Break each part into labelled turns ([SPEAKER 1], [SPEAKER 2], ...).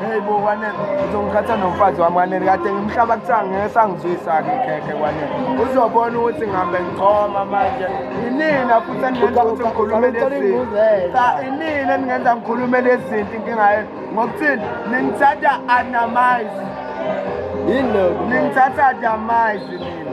[SPEAKER 1] Hey bo kwanele uzongikhatha nomfazi wami kwanele kade ngimhlaba kuthiwa ngeke sangizwisa-ke ikhekhe kwanele uzobona ukuthi ngihambe ngichoma manje inina futhi eningenza ukuthi ngikhulume lezinto cha inina eningenza ngikhulume lezinto inkinga yenu ngokuthini ningithatha anamize
[SPEAKER 2] yini lokho ningithatha adamize
[SPEAKER 1] nina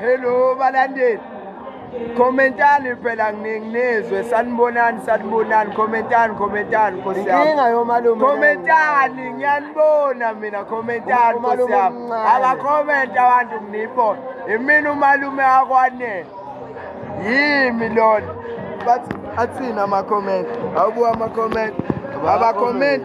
[SPEAKER 1] Hello balandeli. Commentani phela nginizwe sanibonani sanibonani commentani commentani Nkosi yami. Inkinga yomalume.
[SPEAKER 2] Commentani
[SPEAKER 1] ngiyanibona mina commentani Nkosi yami. Aka comment abantu nginibona. Imina umalume akwanele. Yimi lona. But athina ama comment. Awubuka ama comment. Aba comment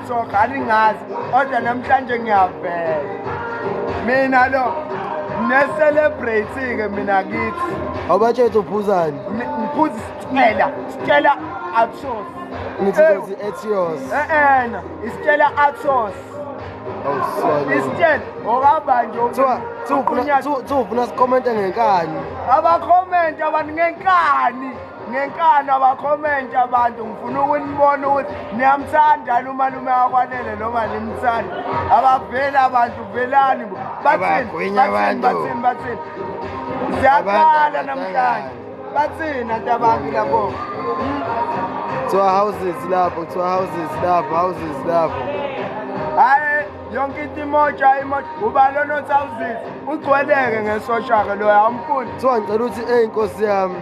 [SPEAKER 1] soka aningazi kodwa namhlanje ngiyavela mina lo ne-celebrate-ke mina kithi awubatshethe
[SPEAKER 2] uphuzani ngiphuza
[SPEAKER 1] isitshela sitshela atsos ngithizi
[SPEAKER 2] etios e-ena
[SPEAKER 1] isitshela atsos isitshela okahamba nje
[SPEAKER 2] uphuna sikomente ngenkani abakomente
[SPEAKER 1] abantu ngenkani ngenkana bakhomenta abantu ngifuna ukunibona ukuthi niyamthanda lumalume akwanele noma nimthanda abaveli abantu velani bo bathini bathini bathini siyaqala namhlanje bathini anti abantu labo
[SPEAKER 2] kuthiwa houses lapho kuthiwa houses lapho houses lapho hayi
[SPEAKER 1] yonke into imoja imoja ubani onothi awuzisi ugcweleke ngesoshake loyo awumfuni kuthiwa ngicela ukuthi eyi
[SPEAKER 2] nkosi yami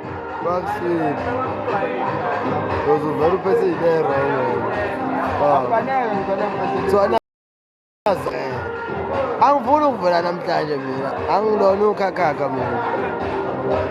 [SPEAKER 1] Fuck shit.
[SPEAKER 2] Because of very person there, So I know. angifuni ukuvela namhlanje mina angilona ukhakhakha mina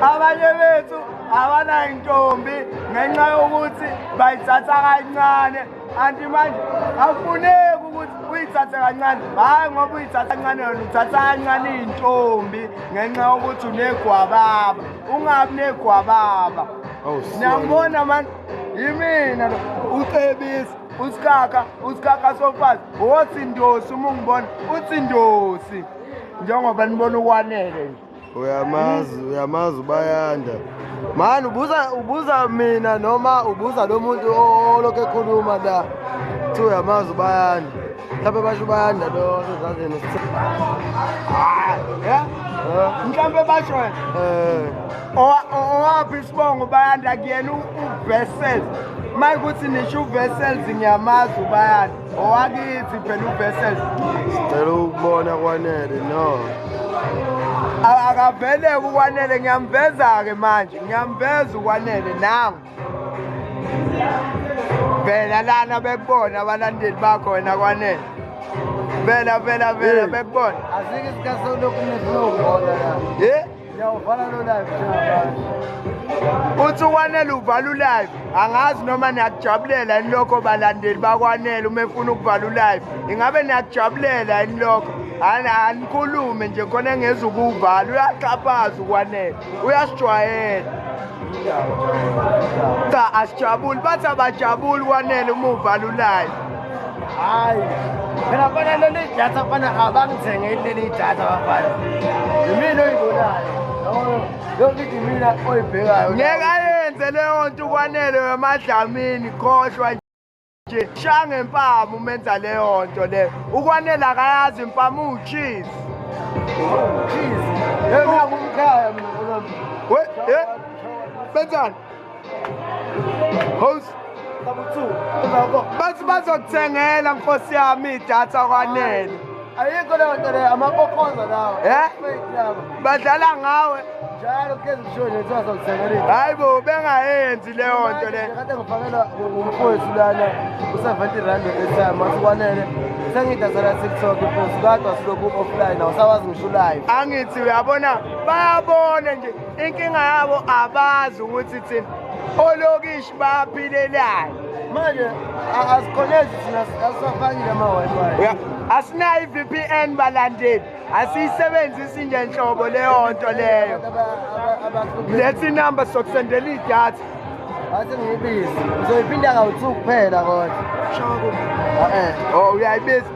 [SPEAKER 2] abanye
[SPEAKER 1] bethu abanayintombi ngenxa yokuthi bayithatha kancane anti manje akufuneki ukuthi uyithathe kancane hhayi ngoba uyithatha kancane yona uthatha kancane iy'ntombi ngenxa yokuthi unegwababa ungabi negwababa oh, niyangibona mani yimina lo ucebisa usikaka usikaka sofazi wothi ndosi uma ungibona uthi ndosi njengoba nibona ukwanele nje uyamazi
[SPEAKER 2] uyamazi ubayanda mani ubuza ubuza mina noma ubuza lo muntu olokhu ekhuluma la kuthi uyamazi ubayanda mhlawumbe basho ubayanda lo sezazini mhlawumbe
[SPEAKER 1] basho eh. owaphi isibongo ubayanda kuyena uvesel ma kuthi nisho uvesels ngiyamazi ubayanda owakithi phela uvessel sicela
[SPEAKER 2] ukubona kwanele no akaveleke
[SPEAKER 1] ukwanele ngiyamveza-ke manje ngiyamveza ukwanele nangu vela lana bekubona abalandeli bakho wena kwanele vela vela vela bekubona azike isikhathi
[SPEAKER 2] sokulokhu nifuna ukubona la Ngiyawuvala lo live njengamanje.
[SPEAKER 1] Uthi uKwanele uvala ulive. Angazi noma niyakujabulela yini lokho balandeli baKwanele uma efuna ukuvala ulive. Ingabe niyakujabulela yini lokho? Anikhulume nje khona engeza ukuwuvala. Uyaxhaphaza uKwanele. Uyasijwayela. Cha asijabuli bathi abajabuli kwanele uma uvala ulive. hayi
[SPEAKER 2] phela fana leli idatha fana abangithengeli leli idatha bafana yimina oyibonayo yonke into imina oyibhekayo ngeke ayenze
[SPEAKER 1] leyo nto ukwanele wemadlamini khohlwa nje sha ngempama umenza leyo nto leyo ukwanele akayazi impama uwucheese uwucheese
[SPEAKER 2] yena ngumkhaya mina
[SPEAKER 1] benzani host bathi bazokuthengela nkosi yami idatha kwanele ayikho leyo
[SPEAKER 2] nto leyo amakokoza lawo eh?
[SPEAKER 1] badlala ngawe njalo kugeza
[SPEAKER 2] ushoni kuthiwa sokuthengela hayi bo
[SPEAKER 1] bengayenzi leyo nto leyo kade ngifakela
[SPEAKER 2] umfowethu lana u-seventy rand etime wathi kwanele sengidazela tiktok mfowethu kadwa silokhu offline awusawazi ngisho ulive angithi uyabona
[SPEAKER 1] bayabona nje inkinga yabo abazi ukuthi thina olokishi baphilelani manje
[SPEAKER 2] asikhonezi thina asafakile ama-wi-fi asinayo
[SPEAKER 1] i-vpn balandeli asiyisebenzisi nje nhlobo leyo nto leyo letha inumber sokusendela idatha wathi
[SPEAKER 2] ngiyibize uzoyiphinda kawu-two kuphela kodwa eh. oh uyayibiza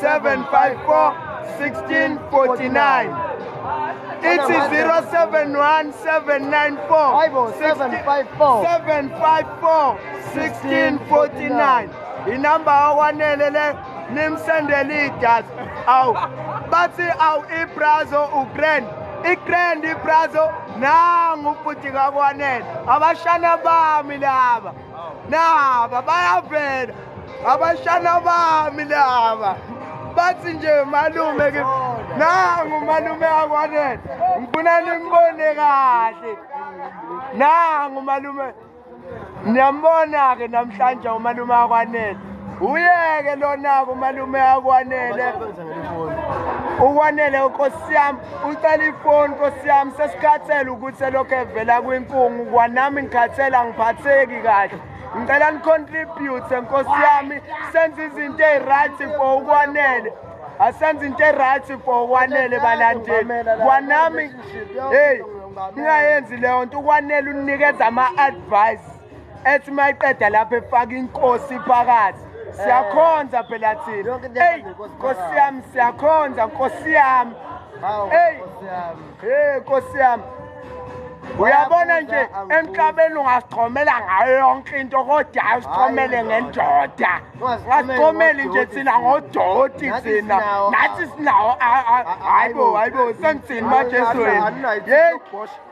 [SPEAKER 1] 754 1649 ithi 071794 inamba yakwanele le nimsendele idatha awu bathi awu ibrazo ugrand igrand ibrazo nangu ubhuti kakwanele abashana bami laba naba bayavela abashana bami laba bathi nje malume ke nangu malume akwanele ngifuna nimbone kahle nangu malume niyambona ke namhlanje umalume akwanele uyeke lona-ke umalume akwanele ukwanele nkosi yami ucela ifoni nkosi yami sesikhathele ukuthi elokhu evela kwinkungu kwanami ngikhathele angiphatheki kahle ngicela nicontribute nkosi yami senze izinto eyi-right for ukwanele asenze into eryt for kwanele balandeli kwanami heyi ningayenzi leyo nto ukwanele unikeza ama-advice ethi mayiqeda lapha efaka inkosi phakathi siyakhonza phela thina eyi nkosi yami siyakhonza nkosi yami eyi hey nkosi yami uyabona nje emhlabeni ungasichomela ngayo yonke into kodwa asichomele ngendoda ngasichomeli nje thina ngodoti thina nathi sinawo hayibo hayibo sengithini majesu wena yeyi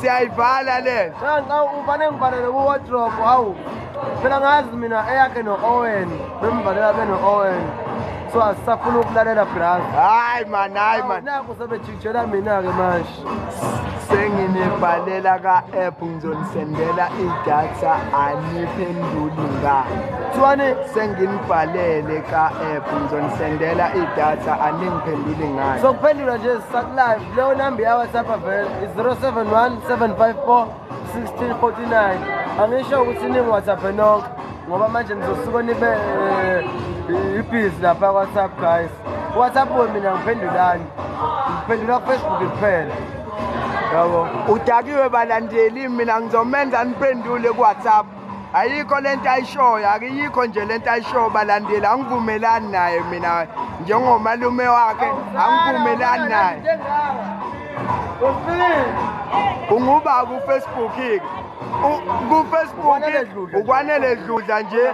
[SPEAKER 1] siyayivala le cha nxa ufane
[SPEAKER 2] ngivalele kuwardrobe hawu phela ngazi mina eyakhe no-owen bemvalela beno-owen so asisafuna ukulalela brazi hayi mani hayi
[SPEAKER 1] mani naku sebejijela
[SPEAKER 2] mina-ke manje senginibhalela
[SPEAKER 1] ka-app ngizonisendela idatha aniphenduli ngani kuthiwani senginibhalele ka-app ngizonisendela idatha aningiphenduli ngani sokuphendula nje
[SPEAKER 2] sisakulayo Leyo number ya WhatsApp vele is 071 754 1649. Angisho ukuthi ningi WhatsApp nonke ngoba manje nizosuka nibe eh, ibhizi lapha WhatsApp guys. WhatsApp mina ngiphendulani? Ngiphendula Facebook kuphela. Yabo. Udakiwe
[SPEAKER 1] balandeli mina ngizomenza niphendule ku WhatsApp. ayikho lento ayishoyo akiyikho nje lento ayishoyo balandeli angivumelani naye mina njengomalume wakhe angivumelani naye unguba kufacebook ke kufacebook ukwanele dludla nje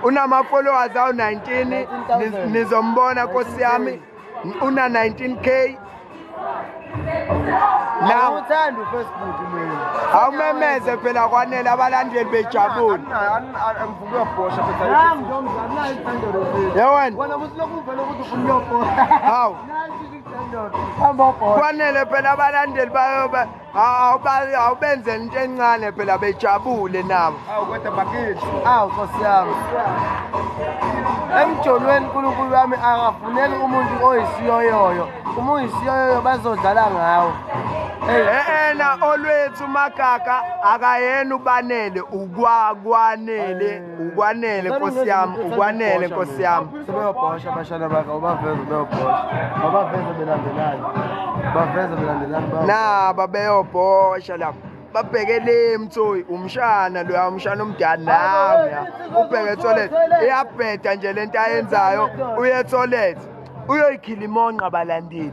[SPEAKER 1] unama-followers awu-19 nizombona nkosi yami una 19k
[SPEAKER 2] now uthanda ufacebook mina awumemeze
[SPEAKER 1] phela kwanele abalandeli bejabule
[SPEAKER 2] yewena
[SPEAKER 1] hawu kwanele phela abalandeli bayoba awubenzela into encane phela bejabule nabo awu kodwa bakithi
[SPEAKER 2] awu nkosi yami emjolweni unkulunkulu wami akafuneli umuntu oyisiyoyoyo uma uyisiyoyoyo bazodlala ngawo
[SPEAKER 1] ena olwethu magaga akayena ubanele ukwakwanele ukwanele nkosi yami ukwanele nkosi yami sebeyobhosha abashana
[SPEAKER 2] bakhe ubaveze beyobhosha babaveze belandelani baveze belandelani naba
[SPEAKER 1] beyobhosha lapho babheke le mthoyi umshana loya umshana omdala nawe ya ubheke toilet iyabheda nje lento ayenzayo uye toilet uyoyikhila imonqa balandeli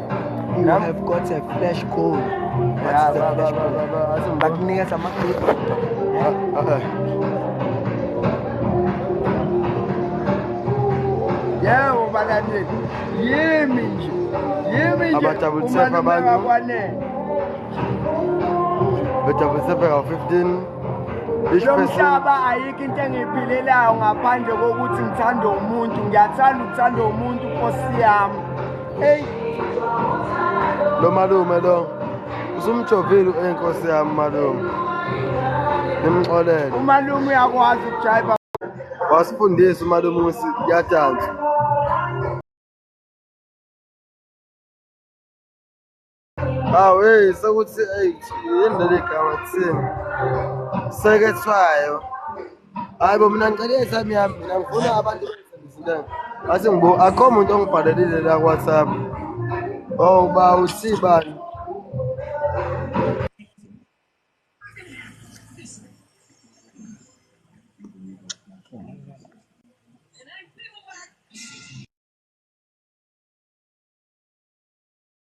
[SPEAKER 2] You yeah. have
[SPEAKER 1] got a flash code. What's yeah, the ba, flash ba, code? Ba, ba, Bakunika sama clip. Uh, uh, uh. Yeah, ubakanje. Yimi nje. Yimi nje.
[SPEAKER 2] Abatabutsepa abantu. Betabutsepa ka 15. lo
[SPEAKER 1] mhlaba ayikho into engiyiphilelayo ngaphandle kokuthi ngithande umuntu ngiyathanda ukuthanda umuntu nkosi yami Hey.
[SPEAKER 2] Lo malume lo usumjovile enkosi yami malume. Nimxolele. Umalume
[SPEAKER 1] uyakwazi ukujayiva. Wasifundisa
[SPEAKER 2] umalume ukuthi yadansa. Hawu hey sekuthi hey yini leli gama thini? Sekethwayo. Hayi bo mina ngicela isami yami mina ngifuna abantu bengisebenzile. Athi ngibo akho umuntu ongibhalelile la WhatsApp. Oh ba usibani?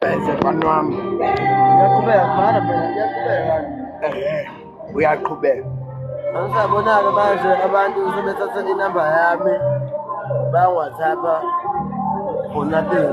[SPEAKER 1] Bese mfana wami. Uyaqhubeka mfana phela uyaqhubeka.
[SPEAKER 2] Eh. Uyaqhubeka.
[SPEAKER 1] Angisabonaka
[SPEAKER 2] manje abantu sebethathe inamba yami bangwathapha for nothing.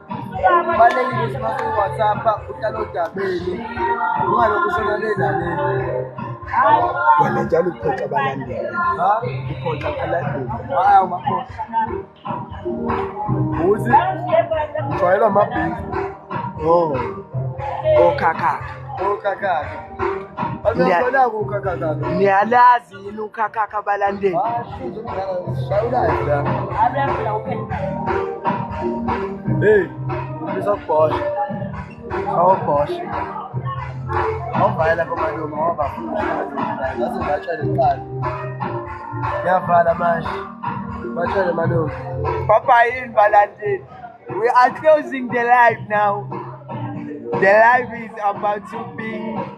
[SPEAKER 2] kubalulekile ukuthi uma uyi-whatsapp-a uhlale odabeni ungalokhu ushona le naleni
[SPEAKER 1] wena njalo uphoxa abalandeli uphoxa abalandeli hhayi
[SPEAKER 2] awumakhoxa uthi ujwayelwa amabhizi o
[SPEAKER 1] okhakhakha
[SPEAKER 2] okhakhakha niyalazi
[SPEAKER 1] yini ukhakhakha abalandeli
[SPEAKER 2] hey ngizokubhosha awubhosha awuvala komalume awabafundaaze batshale kuqala ngiyavala manje batshale malume papa yini
[SPEAKER 1] balandeli we are closing the live now the live is about to be